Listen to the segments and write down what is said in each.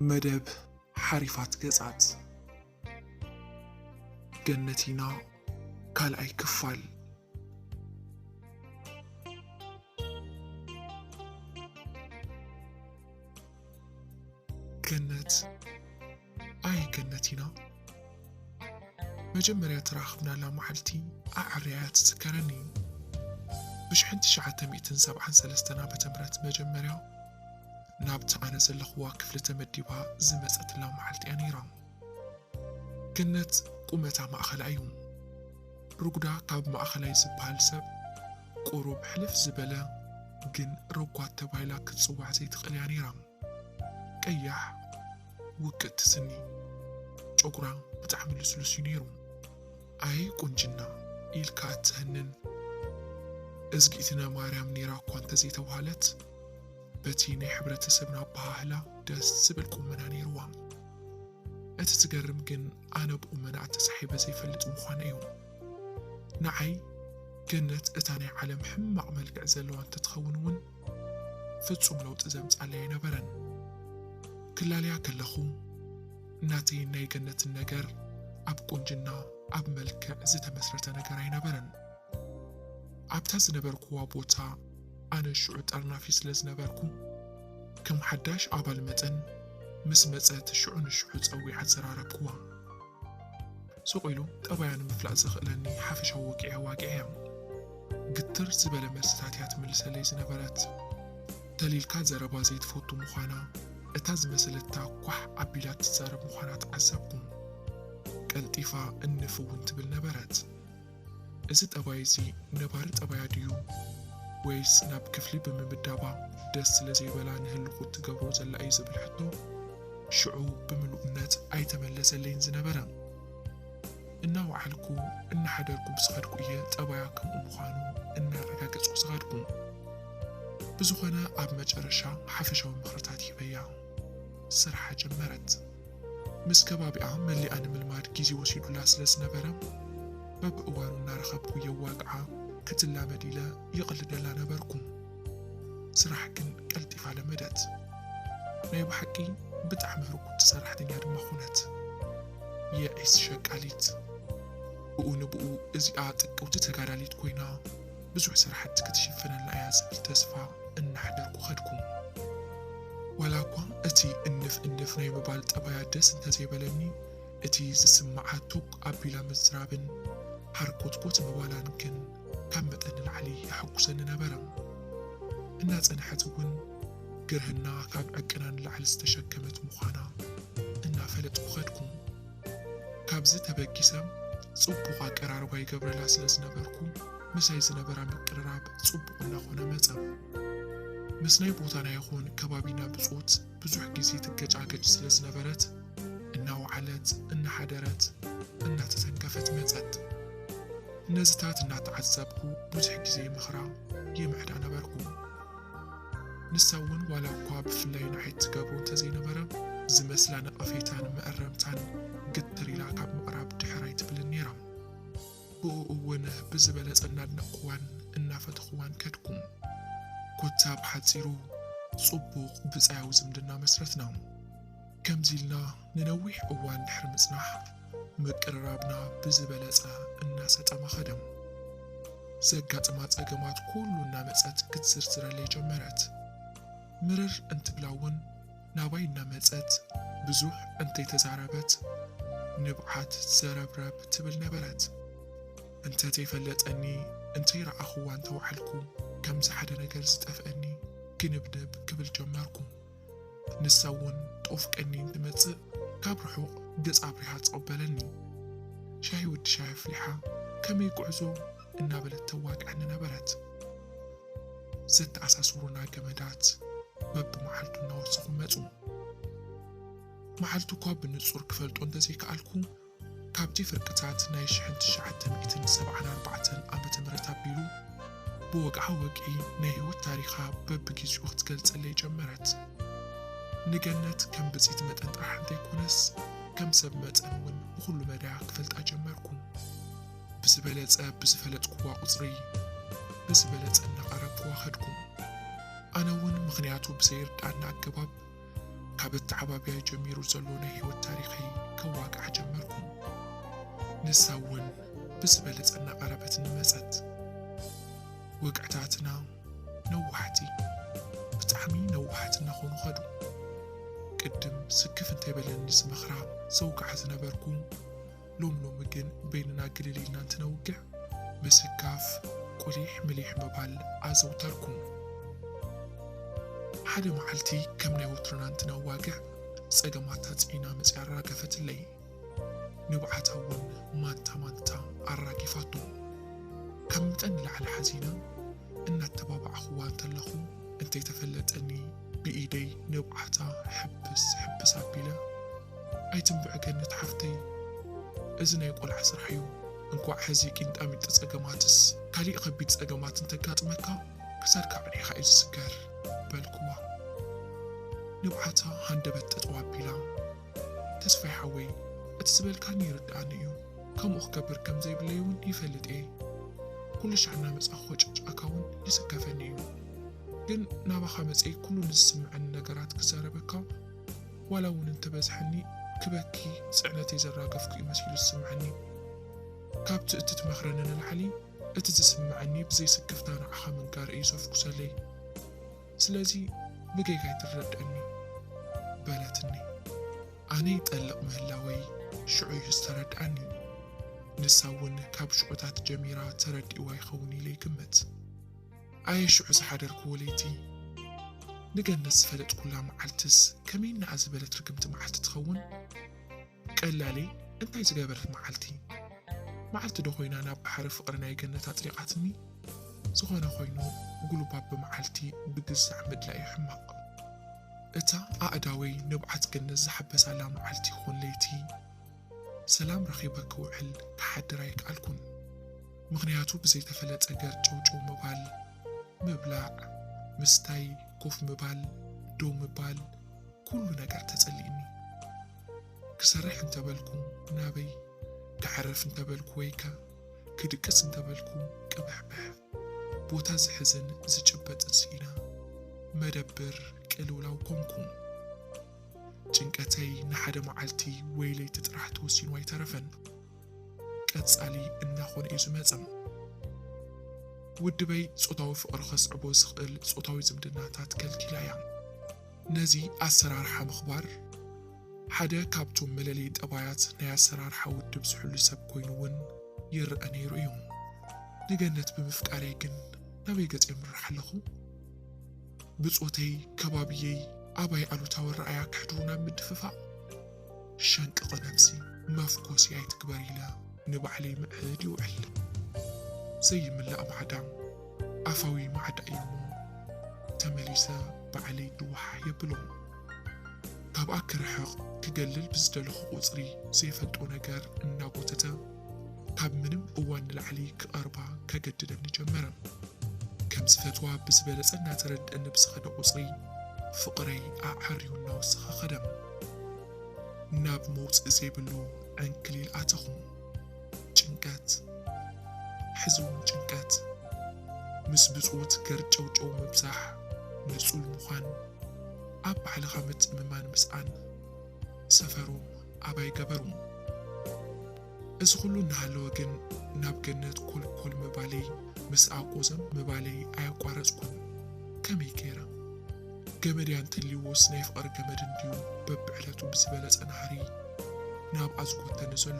መደብ ሓሪፋት ገጻት ገነቲና ካልኣይ ክፋል ገነት ኣይ ገነት ኢና መጀመርያ ተራኽብናላ መዓልቲ ኣዐርያያ ትዝከረኒ እዩ ብሽሕን ትሽዓተ ሚእትን ሰብዓን ሰለስተን ዓመተ ምህረት መጀመርያ ናብቲ ኣነ ዘለኽዋ ክፍሊ ተመዲባ ዝመፀትላ መዓልቲ እያ ነይራ ገነት ቁመታ ማእኸላ እዩ ርጉዳ ካብ ማእኸላይ ዝበሃል ሰብ ቁሩብ ሕልፍ ዝበለ ግን ረጓድ ተባሂላ ክትጽዋዕ ዘይትኽእል እያ ነይራ። ቀያሕ ውቅጥቲ ስኒ፣ ጨጉራ ብጣዕሚ ልስሉስ እዩ ነይሩ። ኣይ ቁንጅና ኢልካ እትሀንን እዝጊእትነ ማርያም ነይራ እኳ እንተዘይተብሃለት በቲ ናይ ሕብረተሰብና ኣበሃህላ ደስ ዝብል ቁመና ነይርዋ። እቲ ዝገርም ግን ኣነ ብቁመናኣ ተሳሒበ ዘይፈልጥ ምዃነይ እዩ። ንዓይ ገነት እታ ናይ ዓለም ሕማቕ መልክዕ ዘለዋ እንተትኸውን እውን ፍጹም ለውጢ ዘምጻለይ ኣይነበረን። ክላለያ ከለኹ ናተይን ናይ ገነትን ነገር ኣብ ቁንጅና ኣብ መልክዕ ዝተመስረተ ነገር ኣይነበረን። ኣብታ ዝነበርኩዋ ቦታ ኣነ ሽዑ ጠርናፊ ስለ ዝነበርኩ ከም ሓዳሽ ኣባል መጠን ምስ መጸት ሽዑ ንሽዑ ጸዊዓ ኣዘራረብኩዋ። ስቕ ኢሉ ጠባያ ንምፍላጥ ዘኽእለኒ ሓፈሻዊ ወግዒ ኣዋጊዐ እያ። ግትር ዝበለ መልስታት እያ ትምልሰለይ ዝነበረት። ተሊልካ ዘረባ ዘይትፈቱ ምዃና፣ እታ ዝመሰለታ ኳሕ ኣቢላ እትዛረብ ምዃና ተዓዘብኩ። ቀልጢፋ እንፍ እውን ትብል ነበረት። እዚ ጠባይ እዚ ነባሪ ጠባያ ድዩ ወይስ ናብ ክፍሊ ብምምዳባ ደስ ስለ ዘይበላ ንህልኩ እትገብሮ ዘላ እዩ ዝብል ሕቶ ሽዑ ብምሉእነት ኣይተመለሰለይን ዝነበረ። እናወዓልኩ እናሓደርኩ ብዝኸድኩ እየ ጠባያ ከምኡ ምዃኑ እናረጋገፅኩ ዝኸድኩ። ብዝኾነ ኣብ መጨረሻ ሓፈሻዊ ምኽርታት ሂበያ ስርሓ ጀመረት። ምስ ከባቢኣ መሊኣ ንምልማድ ግዜ ወሲዱላ ስለ ዝነበረ፣ በብእዋኑ እናረኸብኩ የዋግዓ፣ ክትላመድ ኢለ ይቕልደላ ነበርኩ። ስራሕ ግን ቀልጢፋ ለመደት። ናይ ብሓቂ ብጣዕሚ ህርኩቲ ሰራሕተኛ ድማ ኾነት። የዒስ ሸቃሊት። ብኡ ንብኡ እዚኣ ጥቅውቲ ተጋዳሊት ኮይና። ብዙሕ ስራሕቲ ክትሽፍነልና እያ ዝብል ተስፋ እናሕደርኩ ከድኩ። ዋላ እኳ እቲ እንፍ እንፍ ናይ ምባል ጠባያ ደስ እንተዘይበለኒ እቲ ዝስምዓ ቶግ ኣቢላ ምዝራብን ሃርኮትኮት ምባላን ግን ካብ መጠን ንላዕሊ የሐጉሰኒ ነበረ። እናጸንሐት እውን ግርህና ካብ ዕቅና ንላዕሊ ዝተሸከመት ምዃና እናፈለጥኩ ከድኩ። ካብዚ ተበጊሰ ጽቡቕ ኣቀራርባ ይገብረላ ስለ ዝነበርኩ ምሳይ ዝነበራ ምቅርራብ ጽቡቕ እናኾነ መጸ። ምስ ናይ ቦታና ይኹን ከባቢና ብጾት ብዙሕ ግዜ ትገጫገጭ ስለ ዝነበረት እናወዓለት እናሓደረት እናተተንከፈት መጸት። ነዚታት እናተዓዘብኩ ብዙሕ ግዜ ይመኽራ ይምዕዳ ነበርኩ። ንሳ እውን ዋላ እኳ ብፍላይ ንዓይ እትገብሮ እንተዘይነበረ ዝመስላ ነቐፌታን መእረምታን ግትር ኢላ ካብ ምቕራብ ድሕር ኣይትብልን ነይራ። ብእኡ እውን ብዝበለፀ እናድነቕኹዋን እናፈተኹዋን ከድኩ። ኮታ ብሓፂሩ ፅቡቕ ብፃያዊ ዝምድና መስረትና። ከምዚ ኢልና ንነዊሕ እዋን ድሕሪ ምጽናሕ፣ ምቅርራብና ብዝበለጸ እናሰጠመ ከደ። ዘጋጥማ ጸገማት ኩሉ እናመጸት ክትዝርዝረለይ ጀመረት። ምርር እንትብላ እውን ናባይ እናመጸት ብዙሕ እንተይተዛረበት ንብዓት ዘረብረብ ትብል ነበረት። እንተተይፈለጠኒ እንተይረኣኹዋ እንተወዓልኩ ከምዚ ሓደ ነገር ዝጠፍኣኒ ግንብንብ ክብል ጀመርኩ። ንሳ እውን ጦፍ ቀኒን ትመጽእ ካብ ርሑቕ ገጽ ኣብሪሃ ትቕበለኒ። ሻሂ ወዲ ሻሂ ኣፍሊሓ ከመይ ጉዕዞ እናበለት ተዋግዐኒ ነበረት። ዘተኣሳስሩና ገመዳት በብመዓልቱ እናወሰኹ መጹ። መዓልቱ እኳ ብንጹር ክፈልጦ እንተዘይከኣልኩ፣ ካብቲ ፍርቅታት ናይ ሽሕን ትሽዓተ ሚእትን ሰብዓን ኣርባዕተን ዓመተ ምህረት ኣቢሉ ብወግዓ ወግዒ ናይ ህይወት ታሪኻ በብጊዚኡ ክትገልጸለይ ጀመረት። ንገነት ከም ብጺቲ መጠን ጥራሕ እንተይኮነስ ከም ሰብ መጠን ውን ብኹሉ መዳያ ክፈልጣ ጀመርኩ። ብዝበለጸ ብዝፈለጥኩዋ ቁጽሪ ብዝበለጸ እናቐረብኩዋ ከድኩ። ኣነ ውን ምኽንያቱ ብዘይርድኣኒ ኣገባብ ካብ ኣተዓባብያይ ጀሚሩ ዘሎ ናይ ህይወት ታሪኸይ ከዋግዓ ጀመርኩ። ንሳ እውን ብዝበለጸ እናቐረበትኒ መጸት። ወግዕታትና ነዋሕቲ ብጣዕሚ ነዋሕቲ እናኾኑ ኸዱ። ቅድም ስክፍ እንተይበለኒ ዝመኽራ ዘውግዓ ዝነበርኩ ሎሚ ሎሚ ግን በይንና ግልል ኢልና እንትነውግዕ ምስካፍ፣ ቁሊሕ ምሊሕ ምባል ኣዘውተርኩ። ሓደ መዓልቲ ከም ናይ ወትሩና እንትነዋግዕ ጸገማት ታጽዒና መጺኣ ኣራገፈትለይ። ንብዓታ እውን ማንታ ማንታ ኣራጊፋቶ። ካብ መጠን ንላዕሊ ሓዚነ እናተባባዕኹዋ እንተለኹ እንተይተፈለጠኒ፣ ብኢደይ ንብዓታ ሕብስ ሕብስ ኣቢለ፣ ኣይትንብዒ ገነት ሓፍተይ፣ እዚ ናይ ቆልዓ ስራሕ'ዩ፣ እንኳዕ ሕዚ ቂንጣሚጢ ጸገማትስ ካሊእ ከቢድ ጸገማት እንተጋጥመካ ክሳድካ ኣዕኒኻ'ዩ ዝስገር በልኩዋ። ንብዓታ ሃንደበት ጠጠው ኣቢላ፣ ተስፋይ ሓወይ እቲ ዝበልካኒ ይርድኣኒ'ዩ፣ ከምኡ ክገብር ከም ዘይብለይ'ውን ይፈልጥ'የ፣ ኩሉሻዕ እናመጻኹ ክጭቅጭቀካ'ውን ይስከፈኒ'ዩ፣ ግን ናባኻ መጸይ ኩሉ ንዝስምዐኒ ነገራት ክዛረበካ ዋላ እውን እንተበዝሐኒ ክበኪ ጽዕነተይ ዘራገፍኩ እዩ መሲሉ ዝስምዐኒ። ካብቲ እትትመኽረኒ ንላዕሊ እቲ ዝስምዐኒ ብዘይ ስክፍታ ንዓኻ ምንጋር እዩ ዘፍኩሰለይ። ስለዚ ብጌጋይ ትረደኣኒ። በለትኒ። ኣነ ይጠልቕ ምህላወይ ሽዑ እዩ ዝተረድኣኒ። ንሳ እውን ካብ ሽዑታት ጀሚራ ተረዲእዋ ይኸውን ኢለ ይግምት። ኣየ ሽዑ ዝሓደርክዎ ለይቲ! ንገነት ዝፈለጥኩላ መዓልትስ ከመይና'ያ ዝበለት ርግምቲ መዓልቲ ትኸውን? ቀላል'የ እንታይ ዝገበረት መዓልቲ? መዓልቲ'ዶ ኮይና ናብ ባሕሪ ፍቕሪ ናይ ገነት ኣጥሊቓትኒ? ዝኾነ ኮይኑ ጉልባብ ብመዓልቲ ብግዛዕ ምድላይ'ዩ ሕማቕ። እታ ኣእዳወይ ንብዓት ገነት ዝሓበሳላ መዓልቲ ይኹን ለይቲ! ሰላም ረኺበ ክውዕል ክሓድር ኣይከኣልኩን ምኽንያቱ ብዘይተፈለጠ ገርጨውጨው ምባል ምብላዕ ምስታይ ኮፍ ምባል ደው ምባል ኩሉ ነገር ተጸሊእኒ ክሰርሕ እንተበልኩ ናበይ ክዓርፍ እንተበልኩ ወይከ ክድቅስ እንተበልኩ ቅብሕብሕ ቦታ ዝሕዝን ዝጭበጥን ስኢና መደብር ቅልውላው ኮንኩ። ጭንቀተይ ንሓደ መዓልቲ ወይ ለይቲ ጥራሕ ተወሲኑ ኣይተረፈን። ቀጻሊ እናኾነ እዩ ዝመጸ። ውድበይ ጾታዊ ፍቕሪ ከስዕቦ ዝኽእል ጾታዊ ዝምድናታት ከልኪላ እያ። ነዚ ኣሰራርሓ ምኽባር ሓደ ካብቶም መለለዪ ጠባያት ናይ ኣሰራርሓ ውድብ ዝሕሉ ሰብ ኮይኑ እውን ይረኣ ነይሩ እዩ። ንገነት ብምፍቃረይ ግን ናበይ ገጸ የምርሕ ኣለኹ? ብጾተይ ከባብየይ ኣባይ ኣሉታዊ ኣረኣእያ ክሕድሩ ናብ ምድፍፋእ ሸንቅቒ ነብሲ መፍኮሲ ኣይትግበር ኢለ ንባዕለይ ምዕድ ይውዕል። ዘይምላእ ማዕዳም ኣፋዊ ማዕዳ እዩ እሞ ተመሊሰ ባዕለይ ድዋሕ የብሎም። ካብኣ ክርሕቕ ክገልል ብዝደለኹ ቁጽሪ ዘይፈልጦ ነገር እናጎተተ ካብ ምንም እዋን ንላዕሊ ክቐርባ ከገድደኒ ጀመረ። ከም ዝፈትዋ ብዝበለጸ እናተረድኣኒ ብዝኸደ ቁጽሪ ፍቕረይ ኣዐርዩ እናወሰኸ ኸደ። ናብ መውጽኢ ዘይብሉ ዕንክሊል ኣተኹ። ጭንቀት፣ ሕዚ እውን ጭንቀት፣ ምስ ብጾት ገርጨውጨው ምብዛሕ፣ ንጹል ምዃን፣ ኣብ ባዕልኻ ምትእምማን ምስኣን፣ ሰፈሩ ኣባይ ገበሩ። እዚ ኹሉ እናሃለወ ግን ናብ ገነት ኮልኮል ምባለይ ምስ ኣቆዘም ምባለይ ኣየቋረጽኩን። ከመይ ገይረ? ገመድያ እንተልዩዎስ ናይ ፍቕሪ ገመድ እንድዩ በብዕለቱ ብዝበለጸ ናህሪ ናብኣ ዝጎተኒ ዘሎ።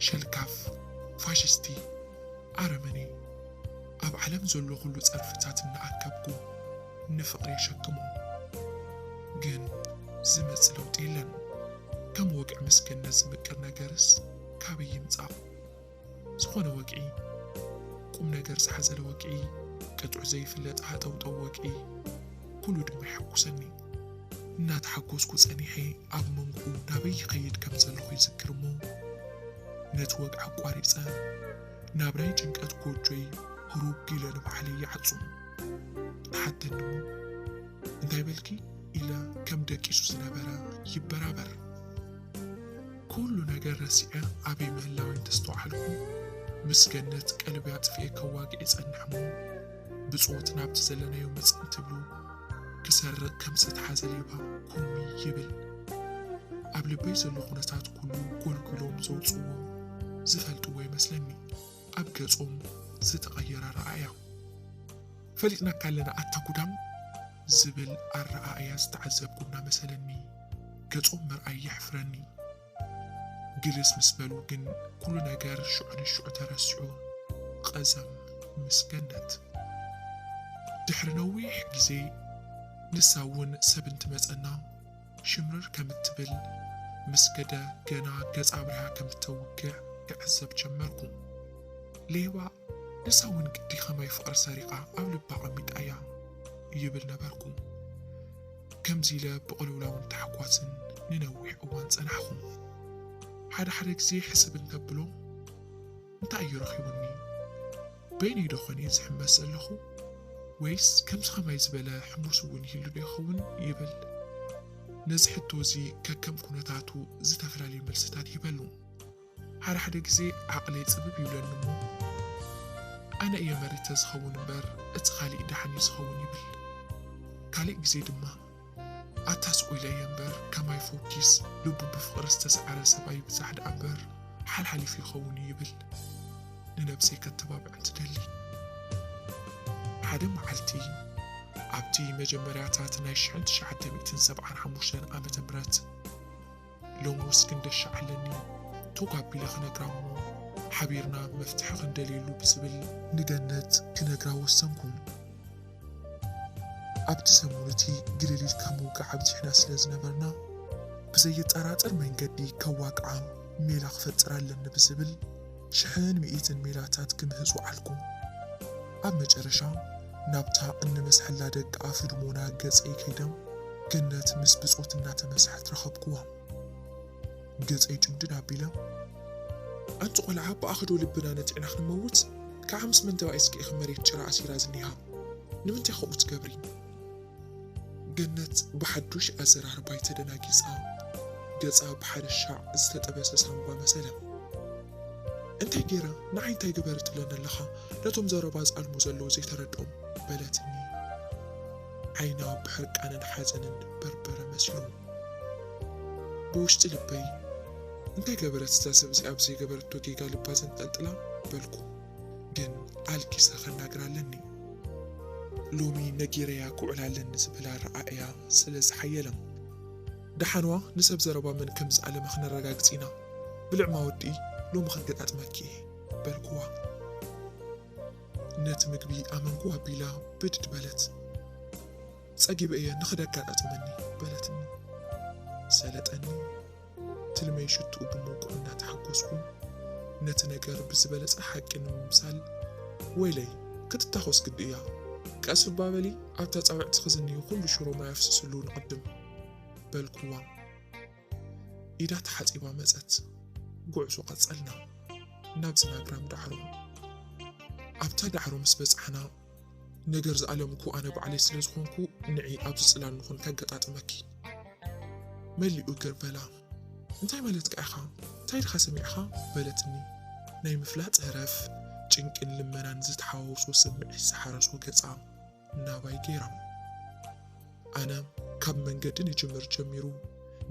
ሸልካፍ! ፋሽስቲ! ኣረመኔ! ኣብ ዓለም ዘሎ ኩሉ ጸርፍታት እናኣከብኩ ንፍቕሪ የሸክሞ። ግን ዝመጽእ ለውጢ የለን። ከም ወግዒ ምስ ገነት ዝምቅር ነገርስ ካበይ ይምጻእ? ዝኾነ ወግዒ፣ ቁምነገር ዝሓዘለ ወግዒ፣ ቅጥዑ ዘይፍለጥ ሃጠውጠው ወግዒ፣ ኩሉ ድማ የሐጉሰኒ። እናተሓጎስኩ ጸኒሐ ኣብ መንጎኡ ናበይ ይኸይድ ከም ዘለኹ ይዝክር እሞ ነቲ ወግዒ ኣቋሪጸ ናብራይ ጭንቀት ጎጆይ ህሩግ ኢለ ንባዕለይ ይዓጹ። ተሓተኒ እሞ እንታይ በልኪ ኢለ ከም ደቂሱ ዝነበረ ይበራበር። ኩሉ ነገር ረሲዐ ኣበይ ምህላወይ እንተስተውዓልኩ ምስ ገነት ቀልቢ ኣጥፊኤ ከዋግእ ይጸንሕ እሞ ብጾት ናብቲ ዘለናዮ መጽ እንትብሉ ክሰርቕ ከም ዝተትሓዘ ሌባ ኩርሚ ይብል። ኣብ ልበይ ዘሎ ኩነታት ኩሉ ጎልጒሎም ዘውጽዎ ዝፈልጥዎ ይመስለኒ ኣብ ገጾም ዝተቐየረ ኣረኣእያ። ፈሊጥናካ ኣለና ኣታ ጉዳም ዝብል ኣረኣእያ ዝተዓዘብኩ እናመሰለኒ ገጾም ምርኣይ የሕፍረኒ። ግልስ ምስ በሉ ግን ኩሉ ነገር ሽዑ ንሽዑ ተረሲዑ ቐዘም ምስ ገነት። ድሕሪ ነዊሕ ግዜ ንሳ እውን ሰብ እንትመጸና ሽምርር ከም እትብል ምስ ገደ ገና ገጻ ኣብሪሃ ከም እተውግዕ ክዕዘብ ጀመርኩ። ሌባ ንሳ እውን ግዲ ከማይ ፍቕሪ ሰሪቓ ኣብ ልባ ኣቐሚጣ እያ ይብል ነበርኩ። ከምዚ ኢለ ብቕልውላውን ታሕጓስን ንነዊሕ እዋን ጸናሕኹ። ሓደ ሓደ ግዜ ሕስብ እንተብሎ እንታይ እዩ ረኺቡኒ? በይነይ ዶ ኾን እየ ዝሕመስ ዘለኹ? ወይስ ከምዚ ከማይ ዝበለ ሕሙስ እውን ይህሉ ዶ ይኸውን? ይብል። ነዚ ሕቶ እዚ ከከም ኩነታቱ ዝተፈላለየ መልስታት ይህበሉ። ሓደ ሓደ ግዜ ዓቕለይ ጽብብ ይብለኒ እሞ ኣነ እየ መሪተ ዝኸውን እምበር እቲ ካሊእ ደሓን እዩ ዝኸውን ይብል። ካሊእ ግዜ ድማ ኣታ ስቕ ኢለ እየ እምበር ከማይ ፎኪስ ልቡ ብፍቕሪ ዝተሰዓረ ሰብ ኣይብዛሕ ደኣ እምበር ሓልሓሊፉ ይኸውን እዩ ይብል ንነብሰይ ከተባብዕ እንትደሊ። ሓደ መዓልቲ ኣብቲ መጀመርያታት ናይ ሽሕን ትሽዓተ ሚእትን ሰብዓን ሓሙሽተን ዓመተ ምህረት፣ ሎምውስ ክንደሻዕ ኣለኒ ቶግ ኣቢለ ክነግራ እሞ ሓቢርና መፍትሒ ክንደልየሉ ብዝብል ንገነት ክነግራ ወሰንኩ። ኣብቲ ሰሙን እቲ ግልል ኢልካ ምውጋዕ ኣብዚሕና ስለ ዝነበርና ብዘየጠራጥር መንገዲ ከዋግዓ ሜላ ክፈጥር ኣለኒ ብዝብል፣ ሽሕን ምኢትን ሜላታት ክምህዙ ዓልኩ። ኣብ መጨረሻ ናብታ እንመስሐላ ደቂ ኣፍልሞና ገጸይ ከይደ ገነት ምስ ብጾት እናተመሰሐት ረኸብኩዋ። ገጸይ ጭምድድ ኣቢለ። ኣንቲ ቆልዓ ብኣኸዶ ልብና ነቲዕና ክንመውት ክዓ ምስ መን ተባኢስኪ ኢኺ መሬት ጭራ ኣሲራ ዝኒሃ? ንምንታይ ከምኡ ትገብሪ? ገነት ብሓዱሽ ኣዘራርባይ ተደናጊጻ ገጻ ብሓደ ሻዕ ዝተጠበሰ ሳምባ መሰለ። እንታይ ገይረ? ንዓይ እንታይ ግበሪ ትብለኒ ኣለኻ? ነቶም ዘረባ ዝኣልሙ ዘለዉ ዘይተረድኦም? በለትኒ። ዓይና ብሕርቃንን ሓዘንን በርበረ መሲሉ። ብውሽጢ ልበይ እንታይ ገበረት እዛ ሰብ እዚኣ ብዘይገበረቶ ጌጋ ልባ ዘንጠልጥላ? በልኩ። ግን ኣልጊሰ ከናግራ ኣለኒ። ሎሚ ነጊረያ ክውዕል ኣለኒ ዝብል ኣረኣእያ ስለ ዝሓየለም። ደሓንዋ ንሰብ ዘረባ መን ከም ዝኣለመ ክነረጋግጽ ኢና። ብልዕማ ወዲ ሎሚ ከገጣጥመኪ እየ በልኩዋ። ነቲ ምግቢ ኣመንኩ ኣቢላ ብድድ በለት። ጸጊበ እየ ንኽድ ኣጋጣጥመኒ በለትኒ። ሰለጠኒ ትልመይ ሽትኡ ብምውቅዑ እናተሓጎስኩን ነቲ ነገር ብዝበለጸ ሓቂ ንምምሳል ወይለይ ክትታኾስ ግዲ እያ ቀስ እባ በሊ ኣብታ ጻውዕቲ ክዝንዩ ኩሉ ሽሮ ማይ ኣፍስስሉ ንቕድም በልኩዋ ኢዳ ተሓጺባ መጸት ጉዕዞ ቀጸልና ናብዚ ናግራም ዳዕሮ ኣብታ ዳዕሮ ምስ በጻሕና ነገር ዝኣለም እኮ ኣነ ባዕለይ ስለ ዝኾንኩ ንዒ ኣብዚ ጽላል ንኹን ከገጣጥመኪ መሊኡ ግር በላ እንታይ ማለትካ ኢኻ እንታይ ድኻ ሰሚዕኻ በለትኒ ናይ ምፍላጥ ህረፍ ጭንቅን ልመናን ዝተሓዋወሶ ስምዒት ዝሓረሶ ገጻ ናባይ ገይራ ኣነ ካብ መንገዲ ንጅምር ጀሚሩ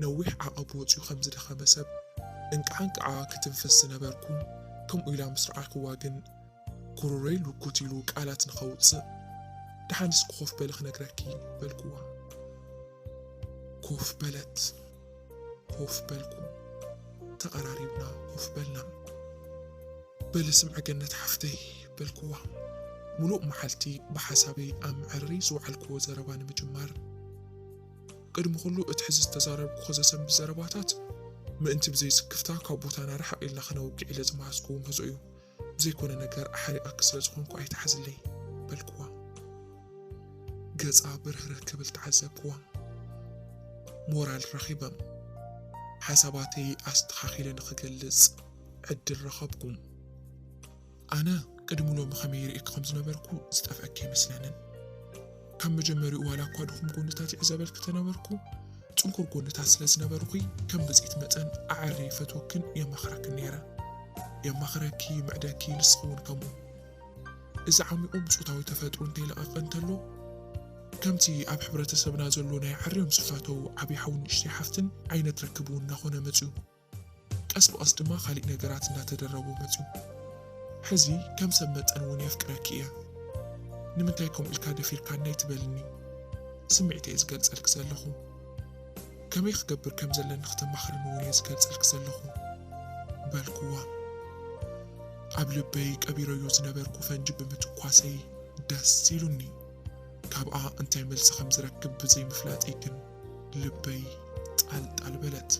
ነዊሕ ዓቐብ ወፅዩ ከም ዝደኸመ ሰብ እንቃዕ እንቃዓ ክትንፍስ ዝነበርኩ ከምኡ ኢላ ምስ ረኣይክዋ ግን ጉሮሮይ ልጉት ኢሉ ቃላት ንኸውጽእ፣ ደሓን እስኪ ኮፍ በሊ ክነግረኪ በልኩዋ። ኮፍ በለት። ኮፍ በልኩ። ተቐራሪብና ኮፍ በልና። በሊ ስምዒ ገነት ሓፍተይ በልኩዋ። ሙሉእ መዓልቲ ብሓሳበይ ኣብ መዕረሪ ዝወዓልኩዎ ዘረባ ንምጅማር ቅድሚ ኩሉ እቲ ሕዚ ዝተዛረብኩ ዘሰንብት ዘረባታት ምእንቲ ብዘይስክፍታ ካብ ቦታና ርሕቕ ኢልና ክነውግዕ ኢለ ዝመሃዝኩዎ ምህዞ እዩ። ዘይኮነ ነገር ኣሕሪቐኪ ስለ ዝኾንኩ ኣይትሓዝለይ በልክዋ። ገጻ ብርህርህ ክብል ተዓዘብክዋ። ሞራል ረኺበ። ሓሳባተይ ኣስተኻኺለ ንኽገልጽ ዕድል ረኸብኩ። ኣነ ቅድሚ ሎሚ ከመይ ይርእየኪ ከም ዝነበርኩ ዝጠፍኣኪ ኣይመስለንን። ካብ መጀመሪኡ ዋላ እኳ ድኹም ጎንታት ይዕዘበልኪ ተነበርኩ፣ ጽንኩር ጎንታት ስለ ዝነበርኹ ከም ብጽት መጠን ኣዐርየ ይፈትወክን የማኽረክን ነይረ። የማኽረኪ፣ ይምዕደኪ፣ ንስኺ እውን ከምኡ። እዚ ዓሚቝ ብጾታዊ ተፈጥሩ እንተይለቐቐ እንተሎ፣ ከምቲ ኣብ ሕብረተሰብና ዘሎ ናይ ዓርዮም ዝፋተዉ ዓብዪ ሓውን ንእሽተይ ሓፍትን ዓይነት ርክብ እውን እናኾነ መጺኡ። ቀስ ብቐስ ድማ ካሊእ ነገራት እንዳተደረቦ መፅዩ ሕዚ ከም ሰብ መጠን እውን የፍቅረኪ እየ ንምንታይ ከምኡ ኢልካ ደፊርካነይ ትበልኒ ስምዒተይ እየ ዝገልፀልኪ ዘለኹ ከመይ ክገብር ከም ዘለኒ ክተማኽርኒ እውን እየ ዝገልፀልኪ ዘለኹ በልኩዋ ኣብ ልበይ ቀቢረዮ ዝነበርኩ ፈንጂ ብምትኳሰይ ደስ ኢሉኒ ካብኣ እንታይ መልሲ ከም ዝረክብ ብዘይምፍላጠይ ግን ልበይ ጣል ጣል በለት።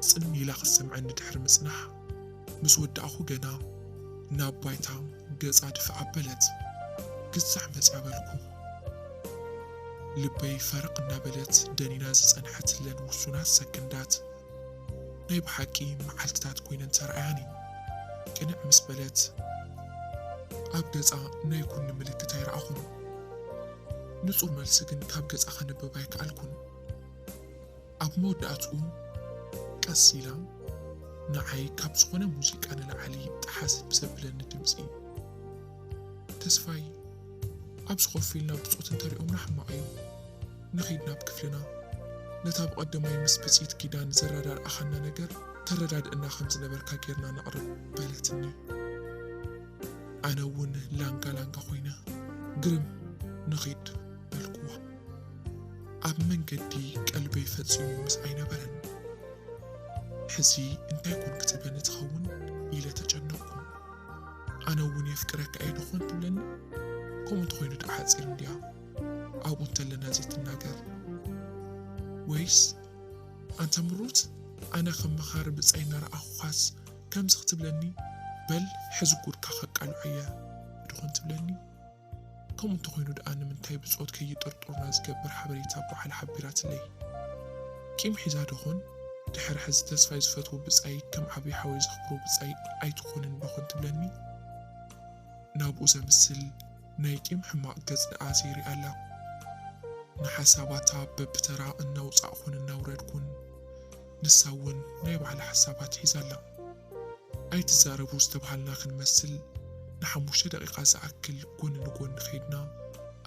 ጽን ኢላ ክትሰምዐኒ ድሕሪ ምጽናሕ፣ ምስ ወዳእኩ ገና ናብ ባይታ ገጻ ድፍእ ኣበለት። ግዛዕ መጽያ በልኩ። ልበይ ፈረቕ እናበለት ደኒና ዝጸንሐትለን ውሱናት ሰክንዳት፣ ናይ ብሓቂ መዓልትታት ኮይነን ተራእያኒ። ቅንዕ ምስ በለት ኣብ ገጻ ናይ ኩኒ ምልክት ኣይረኣኹን። ንጹር መልሲ ግን ካብ ገጻ ከንብብ ኣይከኣልኩን። ኣብ መወዳእትኡ ቀስ ኢላ ንዓይ ካብ ዝኾነ ሙዚቃ ንላዕሊ ጠሓስ ብዘብለኒ ድምጺ። ተስፋይ፣ ኣብዚ ኮፍ ኢልና ብጾት እንተሪኦምና ሕማቕ እዩ። ንኺድ ናብ ክፍልና። ነታ ብቐደማይ ምስ ብጽኢት ኪዳን ዘረዳድኣኻና ነገር ተረዳድእና ከም ዝነበርካ ጌርና ነቕርብ በለትኒ። ኣነ እውን ላንጋ ላንጋ ኮይነ ግርም ንኺድ በልኩዋ። ኣብ መንገዲ ቀልበይ ፈጺሙ ምስ ኣይነበረን። ሕዚ እንታይ ኮን ክትብለኒ ትኸውን ኢለ ተጨነቕኩ። ኣነ እውን የፍቅረካ እየ ድኾን ትብለኒ ከምኡ እንተኾይኑ ድኣ ሓፂር እንድያ ኣብኡ እንተለና ዘይትናገር ወይስ ኣንታ ምሩት ኣነ ከም መኻሪ ብፃይ እናረኣኹኻስ ከምዚ ክትብለኒ በል ሕዚ ጉድካ ከቃልዖ እየ ድኾን ትብለኒ ከምኡ እንተኾይኑ ድኣ ንምንታይ ብጾት ከይጥርጥሩና ዝገብር ሓበሬታ ጓሓል ሓቢራትለይ? ቂም ሒዛ ደኾን? ድሕሪ ሕዚ ተስፋይ ዝፈትዎ ብጻይ ከም ዓቢ ሓወይ ዘኽብሮ ብጻይ ኣይትኾንን ደኾን ትብለኒ? ናብኡ ዘምስል ናይ ቂም ሕማቕ ገጽ ድኣ ዘይሪኣላ? ንሓሳባታ በብተራ እናውጻእኹን እናውረድኩን። ንሳ እውን ናይ ባዕላ ሓሳባት ሒዛ ኣላ። ኣይትዛረቡ ዝተብሃልና ክንመስል ንሓሙሽተ ደቒቓ ዝኣክል ጎኒ ንጎኒ ከይድና።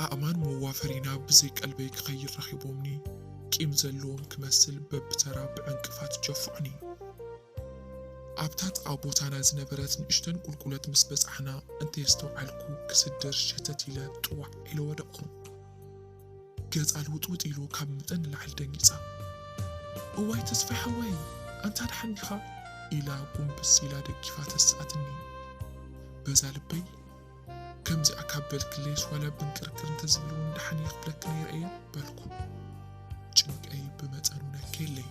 ኣእማን መዋፈሪና ብዘይ ቀልበይ ክኸይድ ረኺቦምኒ ቂም ዘለዎም ክመስል በብተራ ብዕንቅፋት ጀፍዑኒ። ኣብታ ጥቓ ቦታና ዝነበረት ንእሽተን ቁልቁለት ምስ በጻሕና እንተየስተውዓልኩ ክስድር ሸተት ኢለ ጥዋዕ ኢለ ወደቕኩ። ገጻ ልውጥውጥ ኢሉ ካብ መጠን ንላዕሊ ደንጊጻ እዋይ ተስፋይ ሓወይ ኣንታ ደሓን ዲኻ ኢላ ጉንብስ ኢላ ደጊፋ ተስኣትኒ በዛ ልበይ ከምዚኣ ካብ በልክለይስ ዋላ ብንቅርቅር እንተዝብል እውን ደሓን እየ ክብለኪ ነይረ እየ በልኩ ጭንቀይ ብመጠኑ ነከየለይ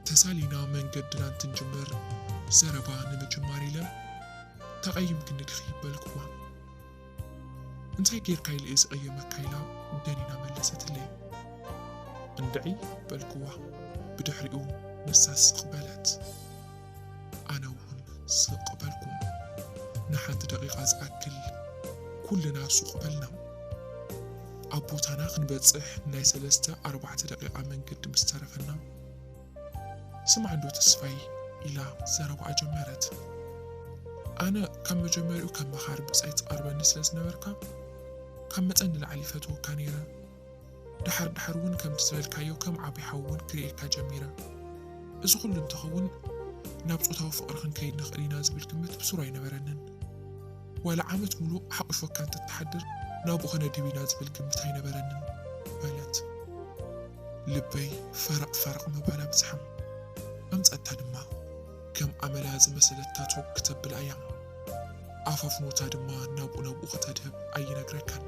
ተሳሊና መንገድና እንትንጅምር ዘረባ ንምጅማር ኢለ ተቐይምክኒ ድኺ በልኩዋ እንታይ ጌርካ ኢለ'የ ዝቕየመካ ኢላ ደኒና መለሰትለይ። እንድዒ በልክዋ ብድሕሪኡ ንሳ ስቕ በለት ኣነ'ውን ስቕ በልኩ። ንሓንቲ ደቒቓ ዝኣክል ኩልና ሱቕ በልና። ኣብ ቦታና ክንበጽሕ ናይ ሰለስተ ኣርባዕተ ደቒቓ መንገዲ ምስ ተረፈና፣ ስማዕ እንዶ ተስፋይ ኢላ ዘረባኣ ጀመረት። ኣነ ካብ መጀመሪኡ ከም መኻሪ ብጻይ ትቐርበኒ ስለ ዝነበርካ ካብ መጠን ንላዕሊ ይፈትወካ ነይረ። ደሓር ደሓር እውን ከምቲ ዝበልካዮ ከም ዓቢ ሓው እውን ክርእየካ ጀሚረ። እዚ ኩሉ እንተኸውን ናብ ጾታዊ ፍቕሪ ክንከይድ ንኽእል ኢና ዝብል ግምት ብሱሩ ኣይነበረንን። ዋላ ዓመት ሙሉእ ሓቝፎካ እንተትሓድር ናብኡ ኸነድብ ኢና ዝብል ግምት ኣይነበረንን በለት። ልበይ ፈረቕ ፈረቕ ምባል ኣብጽሓ። ኣምጸታ ድማ ከም ኣመላ ዝመሰለት ታቶ ክተብል ኣያ። ኣፋፍኖታ ድማ ናብኡ ናብኡ ከተድህብ ኣይነግረካን።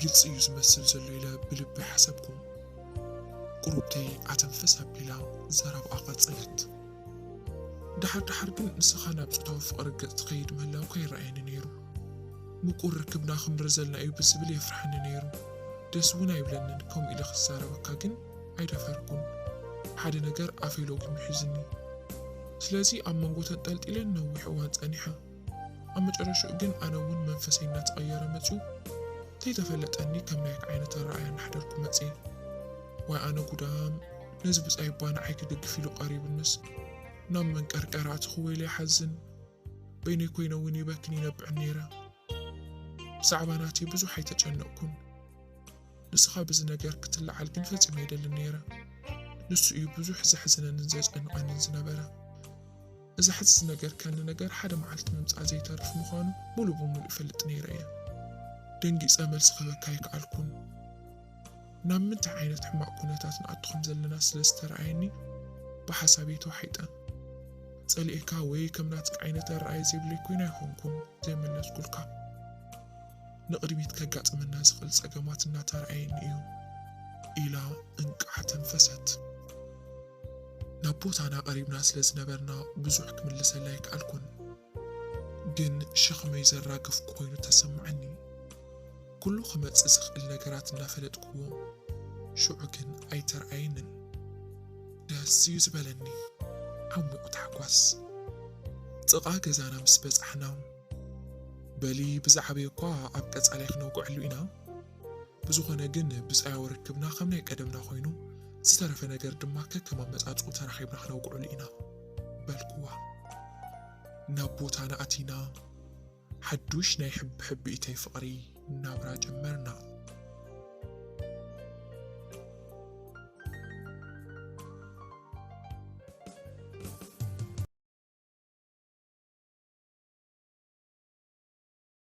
ግልጺ እዩ ዝመስል ዘሎ ኢለ ብልበይ ሓሰብኩ። ቁሩብተይ ኣተንፍስ ኣቢላ ዘረብኣ ቀጸለት። ድሓር ድሓር ግን ንስኻ ናብ ጾታዊ ፍቕሪ ገጽ ትኸይድ ምህላውካ ይረኣየኒ ነይሩ። ምቁር ርክብና ክንብር ዘልና እዩ ብዝብል የፍርሓኒ ነይሩ። ደስ እውን ኣይብለንን፣ ከምኡ ኢለ ክዛረበካ ግን ኣይደፈርኩን። ሓደ ነገር ኣፈይ ሎጊሙ ሒዙኒ። ስለዚ ኣብ መንጎ ተንጠልጢለ ንነዊሕ እዋን ጸኒሐ። ኣብ መጨረሽኡ ግን ኣነ እውን መንፈሰይ እናተቐየረ መጺኡ ከይተፈለጠኒ ከም ናይካ ዓይነት ኣረኣእያ እናሕደርኩ መጽየ። ዋይ ኣነ ጉዳም! ነዚ ብጻይ'ባ ንዓይ ክድግፍ ኢሉ ቀሪቡንስ ናብ መንቀርቀር ኣእትኹ ወይለይ ሓዝን በይነይ ኮይነ ውን ይበክን ይነብዕን ነይረ ብዛዕባ ናተይ ብዙሕ ኣይተጨነቕኩን ንስኻ ብዚ ነገር ክትለዓል ግን ፈጺመ ኣይደልን ነይረ ንሱ እዩ ብዙሕ ዘሕዝነንን ዘጨንቐንን ዝነበረ እዚ ሕዚ ዝነገርከኒ ነገር ሓደ መዓልቲ ምምጻእ ዘይተርፍ ምዃኑ ሙሉእ ብሙሉእ እፈልጥ ነይረ እየ ደንጊጸ መልሲ ክህበካ ኣይከኣልኩን ናብ ምንታይ ዓይነት ሕማቕ ኩነታት ንኣቱ ከም ዘለና ስለ ዝተርኣየኒ ብሓሳብ'የ ተዋሒጠ። ጸሊኤካ ወይ ከም ናትካ ዓይነት ኣረኣእያ ዘይብለይ ኮይነ ኣይኮንኩን ዘይመለስኩልካ። ንቕድሚት ከጋጥመና ዝኽእል ጸገማት እናተርኣየኒ እዩ። ኢላ እንቃዕ ኣተንፈሰት። ናብ ቦታና ቀሪብና ስለ ዝነበርና ብዙሕ ክምልሰላ ኣይከኣልኩን። ግን ሸኽመይ ዘራግፍ ኮይኑ ተሰማዓኒ ኩሉ ክመጽእ ዝኽእል ነገራት እናፈለጥክዎ ሽዑ ግን ኣይተርኣየንን ደስ እዩ ዝበለኒ ዓሙቕ ታሕጓስ ጥቓ ገዛና ምስ በጻሕና በሊ ብዝዓበየ እኳ ኣብ ቀጻላይ ክነውግዐሉ ኢና ብዝኾነ ግን ብጻያዊ ርክብና ከም ናይ ቀደምና ኮይኑ ዝተረፈ ነገር ድማ ከከም ኣመጻጽኡ ተራኺብና ክነውግዐሉ ኢና። በልኩዋ። ናብ ቦታና ኣቲና ሓዱሽ ናይ ሕቢሕቢኢተይ ፍቕሪ ናብራ ጀመርና።